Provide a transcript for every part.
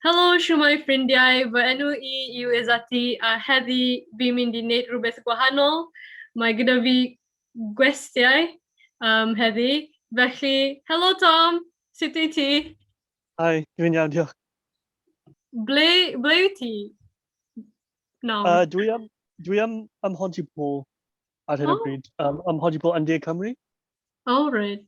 Helo, shwmae ffrindiau, fy enw i yw Izati a heddi fi'n mynd i wneud rhywbeth gwahanol. Mae gyda fi gwestiau um, heddi, felly helo Tom, sut wyt ti? Hi, dwi'n iawn, diolch. Ble, ble wyt ti? No. Uh, dwi am, dwi am ym Mhontypool ar hyn o oh. bryd, um, ym Mhontypool yn De Cymru. Oh, right.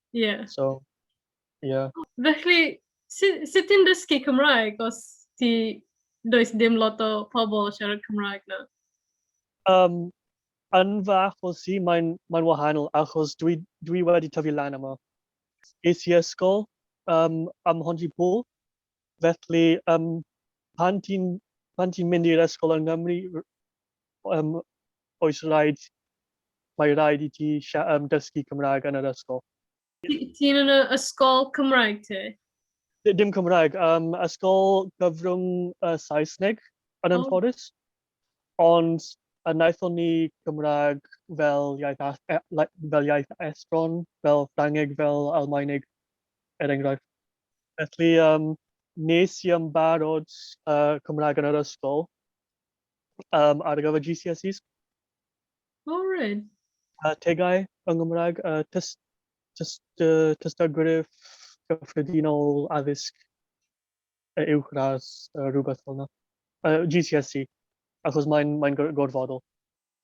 Ie. So, ie. Felly, sut sut ti'n dysgu Cymraeg os ti... does dim lot o pobl yn siarad Cymraeg 'na? Um, yn fy achos i, mae'n mae wahanol, achos dwi, dwi wedi tyfu lan yma. Es i ysgol um, ym Mhontypridd, Felly, um, pan ti'n ti mynd i'r ysgol yng Nghymru, um, oes rhaid, mae rhaid i ti um, dysgu Cymraeg yn yr ysgol. Ti'n yn y ysgol Cymraeg ti? Dim Cymraeg, um, ysgol gyfrwng uh, Saesneg yn oh. ymfforus. Ond a wnaethon ni Cymraeg fel iaith a- e- like, fel iaith estron, fel Ffrangeg, fel Almaeneg, er enghraifft. Felly, um, nes i ymbarod uh, Cymraeg yn yr ysgol um, ar gyfer GCSEs. O, oh, rhaid. Uh, tegau yng Nghymraeg, uh, tys, tys, tys, tystagryf gyffredinol addysg. y uwchradd, uh, rhywbeth fel yna. Uh, GCSE, achos mae'n mae gorfodol.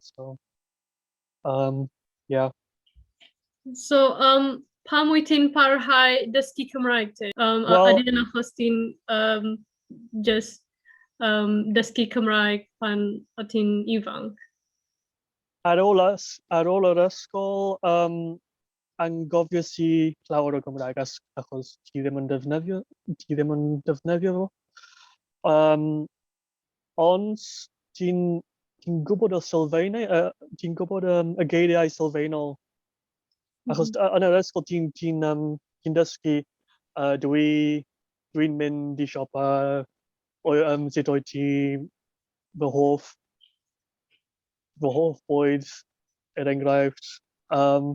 So, um, yeah. So, um, pam wyt ti'n parhau dysgu Cymraeg ti? Um, well, a ydyn achos ti'n um, just um, dysgu Cymraeg pan o ti'n ifanc? Ar ôl, ar ôl yr ysgol, um, angofies i llawer o Gymraeg achos ti ddim yn defnyddio, ti ddim yn defnyddio fo. Um, ond ti'n ti gwybod y sylfaenau, uh, ti'n gwybod um, y geiriau sylfaenol. Achos mm -hmm. yn yr ysgol ti'n ti, um, ti dysgu, uh, dwi, dwi'n mynd i siopa, o, um, sut oed ti fy hoff fy hoff bwyd, er enghraifft. Um,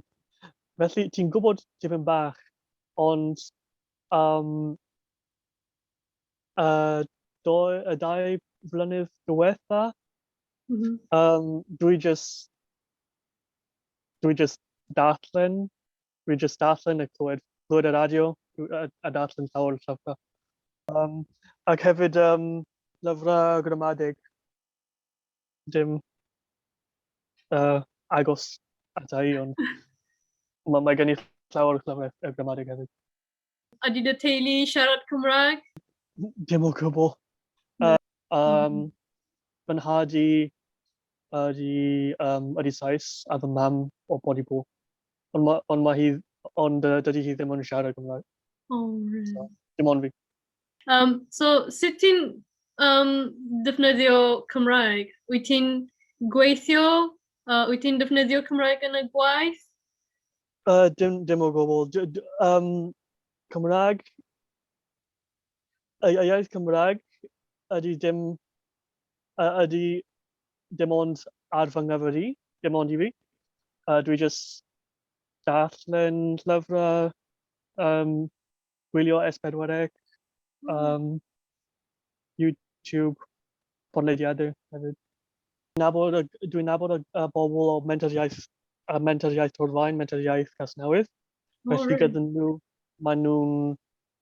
felly, ti'n gwybod tipyn bach, ond um, y, do, y dau flynydd diwetha, mm -hmm. um, dwi just, dwi just darllen, dwi just darllen y clywed, clywed y radio, a, a darllen llawer o llyfrau. Um, ac hefyd um, lyfrau gramadeg. dim uh, agos ata i, ond mae, mae gen i llawer o llawer o gramadeg hefyd. A dyn y teulu siarad Cymraeg? Dim o gwbl. Uh, um, fy nhad i ydy, um, ydy Sais a fy mam o bod i bod. Ond, ma, ond, ma hi, ond uh, dydy hi ddim yn siarad Cymraeg. Oh, really? So, dim ond fi. Yym, so sut ti'n, yym, defnyddio Cymraeg? Wyt ti'n gweithio? Yy, wyt ti'n defnyddio Cymraeg yn y gwaith? Yy, dim dim o gwbl. Dw- dw- yym, Cymraeg, y y iaith Cymraeg ydy dim yy ydy dim ond ar fy nghyfer i, dim ond i fi. Yy, dwi jyst darllen llyfrau, yym... gwylio S4C, um, YouTube, podlediadau hefyd. Nabod, dwi'n nabod y, y bobl o mentoriaeth, a mentoriaeth Torfaen, mentoriaeth Casnewydd. Oh, Felly really? gyda nhw, maen nhw'n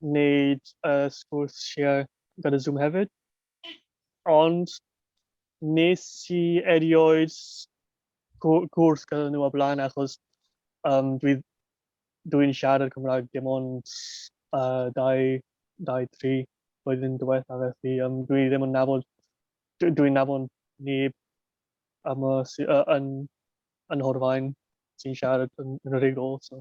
wneud uh, sgwrs share gyda Zoom hefyd. Ond nes i erioed gwrdd gyda nhw o'r blaen achos um, dwi, dwi'n siarad Cymraeg dim ond uh, dau, dau, tri flwyddyn diwetha felly um, dwi ddim yn nabod, dwi'n dwi nabod neb am y, uh, yn, yn Horfaen sy'n siarad yn, yn y rigol. So.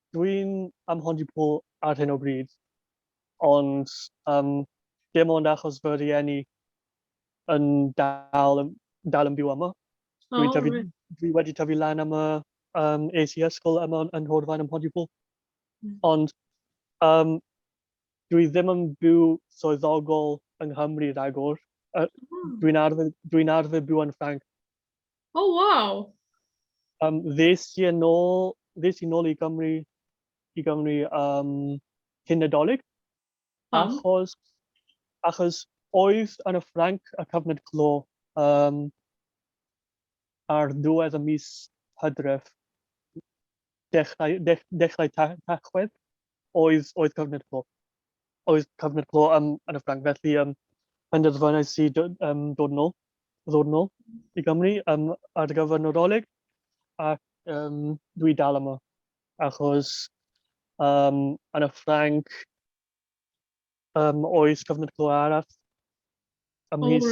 Dwi'n am Hondipull ar hyn o bryd, ond um, dim ond achos fy rhieni yn dal, dal yn byw yma. Dwi, oh, tyfu, right. dwi wedi tyfu lan am y um, es i ysgol yma yn Hordfaen ym Mhontypool. Mm. Ond um, dwi ddim yn byw swyddogol yng Nghymru rhagor. Uh, mm. Dwi'n arfer, dwi arfer byw yn Ffranc. O, oh, waw! Um, ddes i yn ôl, ddes i nôl i Gymru, i Gymru um, cyn Nadolig, Pam? achos, achos oedd yn y Ffranc y cyfnod clo um, ar ddiwedd y mis hydref, dechrau, dech, dechrau ta, tachwedd. oedd, oedd cyfnod clo. Oedd cyfnod clo um, yn y Ffranc, felly um, penderfynais i um, dod yn ôl, ddod yn ôl i Gymru um, ar gyfer Nadolig, ac um, dwi dal yma, achos um, yn y Ffranc, Um, oes, gofyn i'r clywed arall. Ym mis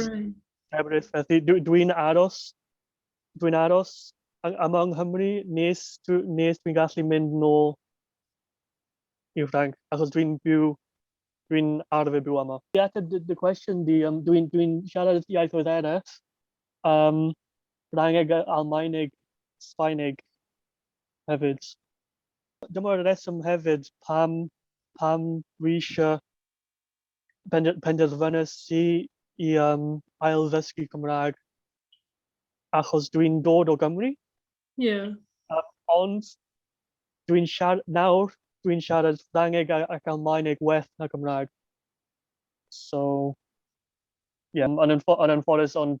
Ebrill, felly dwi'n dwi aros, dwi'n aros am yng Nghymru nes, nes dwi'n gallu mynd nôl i Ffranc, achos dwi'n byw, dwi'n arfer byw yma. I ateb dy, dy cwestiwn di, um, dwi'n dwi siarad iaithoedd eraill, um, Ffrangeg, Almaeneg, Sbaeneg hefyd. Dyma'r rheswm hefyd pam, pam dwi eisiau pender, penderfynu si i um, ail-ddysgu Cymraeg, achos dwi'n dod o Gymru. Yeah. Um, ond dwi'n siarad, nawr dwi'n siarad Ffrangeg ac Almaeneg well na Cymraeg. So, ie, yeah, yn, yn, yn anffodus, ond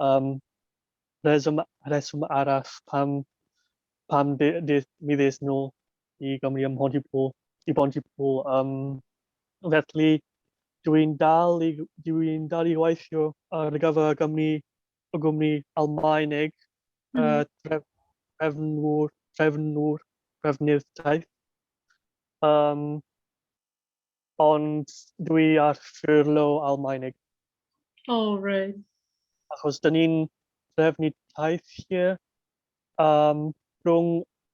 Yym, rheswm, rheswm arall pam, pam de, de, mi ddes nôl i Gymru ym Mhontypŵl, i Bontypŵl. Um, felly, dwi'n dal i, dwi'n dal i weithio ar gyfer y gwmni, y gwmni Almaeneg, mm. uh, tref, trefnwr, trefnwr, trefnydd taith. Um, Ond dwi ar ffyrlo Almaenig. O reit. Achos dyn ni'n trefnu teithiau um, rhwng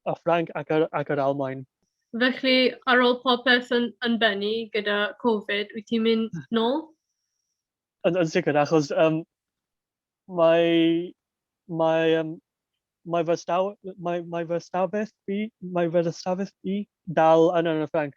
y Ffranc ac yr, ac yr Almaen. Felly, ar ôl popeth yn, yn bennu gyda Covid, wyt ti'n mynd hmm. nôl? Yn, yn sicr, achos um, mae, mae, um, mae fy staw, mae, mae fy stafell fi, mae fy stafell fi dal yn yn y Ffranc.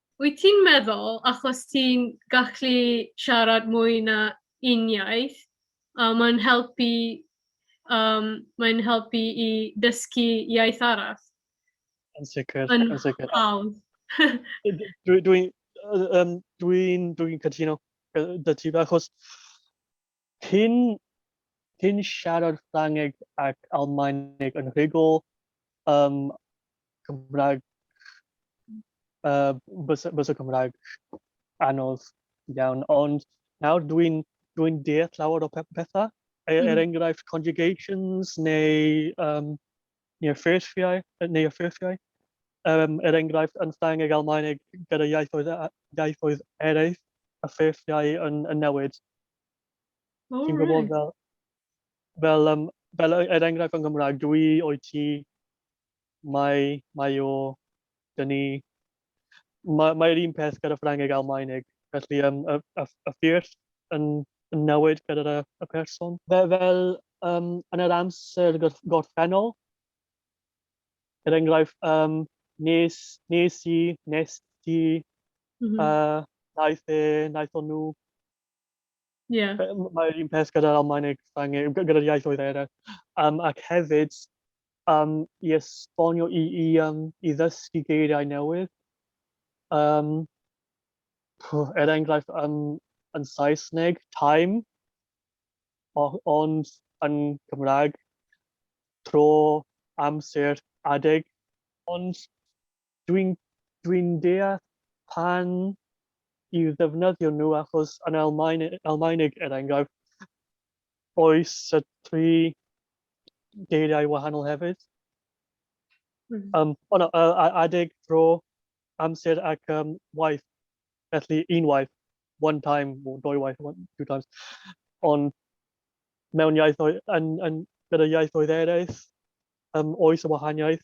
Wyt ti'n meddwl achos ti'n gallu siarad mwy na un iaith, a mae'n helpu um, mae'n helpu i dysgu iaith arall? Yn sicr, yn, yn sicr. Hawdd. Dwi'n dwi, um, dwi, dwi cytuno dy ti, achos Ti'n ti'n siarad Ffrangeg ac Almaeneg yn rhugl, yym, Cymraeg, yy, bysa bysa Cymraeg anodd iawn, ond nawr dwi'n dwi'n deall llawer o pe- pethau, e- er mm. enghraifft conjugations neu um, neu'r ffurfiau, neu y ffurfiau. Um, er enghraifft, yn Ffrangeg, Almaeneg, gyda iaithoedd, iaithoedd eraill, y ffurfiau yn, yn newid. O, Ti'n gwybod fel, fel, um, fel er, er enghraifft yn Gymraeg, dwi o'i ti, mae, mae o, dyn ni, mae, mae'r un peth gyda Ffrangeg Almaeneg. Felly, um, y, y, y ffyrdd yn, yn newid gyda'r y, y person. Fe, fel um, yn yr amser gorffennol, er enghraifft, um, nes, nes i, nes ti, mm -hmm. uh, naeth e, naeth nhw, Ie. Be- m- Mae'r un peth gyda'r Almaeneg, Ffrangeg, gy- gyda'r iaithoedd eraill. Um, ac hefyd, um, i esbonio, i, i, um, i ddysgu geiriau newydd. Um, pw, er enghraifft, um, yn Saesneg, time, o, ond yn Cymraeg, tro, amser, adeg. Ond Dwi'n dwi'n deall pam i'w ddefnyddio nhw achos yn Almaen, Almaeneg er enghraifft oes y tri geiriau wahanol hefyd. Mm. Um, o no, uh, adeg, tro, amser ac um, waith. Felly unwaith, one time, or dwy waith, one, two times. Ond mewn iaithoedd, yn, yn, gyda iaithoedd eraill, um, oes y wahaniaeth.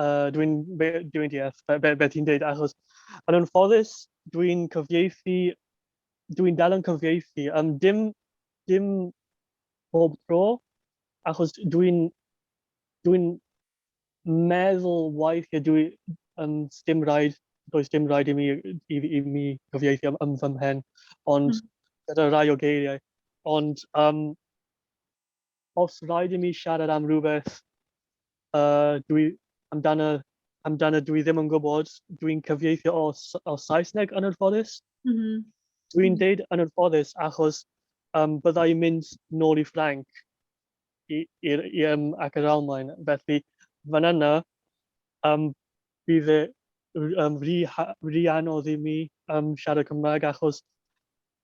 uh, dwi'n dwi deall beth be, be ti'n dweud, achos yn anffodus dwi'n cyfieithu, dwi'n dal yn cyfieithu, um, dim, dim bob tro, achos dwi'n dwi meddwl weithiau dwi, um, dim rhaid, does dim rhaid i mi, i, i mi cyfieithu am, am fy mhen, ond mm. gyda rai o geiriau. Ond um, Os rhaid i mi siarad am rhywbeth amdano dwi ddim yn gwybod, dwi'n cyfieithu o Saesneg yn anffodus. Dwi'n deud yn anffodus achos bydda i'n mynd nôl i Ffrainc ac yr Almaen, felly fan yna bydd e'n rhy anodd i mi siarad Cymraeg achos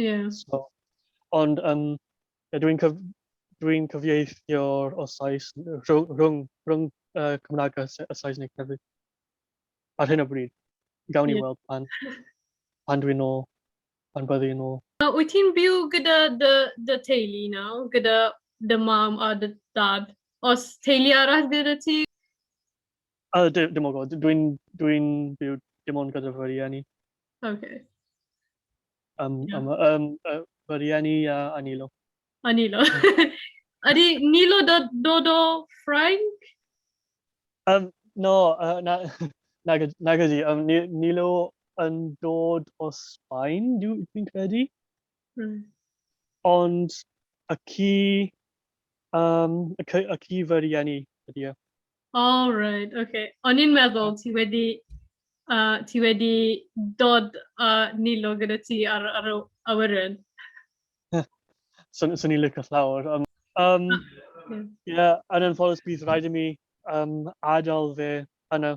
Ie. So, ond um, dwi'n cyf, dwi cyfieithio'r o Sais rhwng, rhwng, rhwng uh, Cymraeg a, a Saesneg hefyd. Ar hyn o bryd, gawn ni yeah. weld pan, pan dwi'n ôl, pan byddu yn ôl. Uh, wyt ti'n byw gyda dy, dy teulu nawr, gyda dy mam a dy dad? Os teulu arall gyda ti? A, dim o gwybod. Dwi'n dwi byw dim ond gyda fy rieni. OK. Um, yeah. um, um, uh, fy rieni a, a Nilo. A Nilo. Ydy Nilo dod, dod o Ffrainc? Um, no, uh, na, na, na gyda. Um, Nilo yn dod o Sbaen, dwi'n credu. Mm. Ond y ci, um, y, y ci fy rieni ydy e. O, reit, oce. O'n i'n meddwl ti wedi uh, ti wedi dod a uh, nilo gyda ti ar, ar y awyren. Swn so, i'n licio llawr. Um, um, yeah. yeah, yn anffodus bydd rhaid i mi um, adael fe yna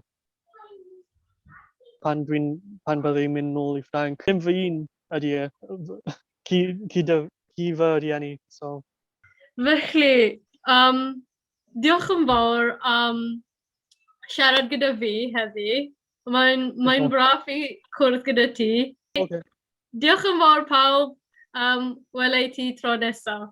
pan, dwi'n, pan bydde i'n mynd nôl i Ffranc. Dim fy un ydy e, ci, ci, dy, ci fy rhieni. So. Felly, um, Diolch yn fawr am siarad gyda fi heddi. Mae'n mae braf i cwrdd gyda ti. Okay. Diolch yn fawr pawb. Um, Wela i ti tro nesaf.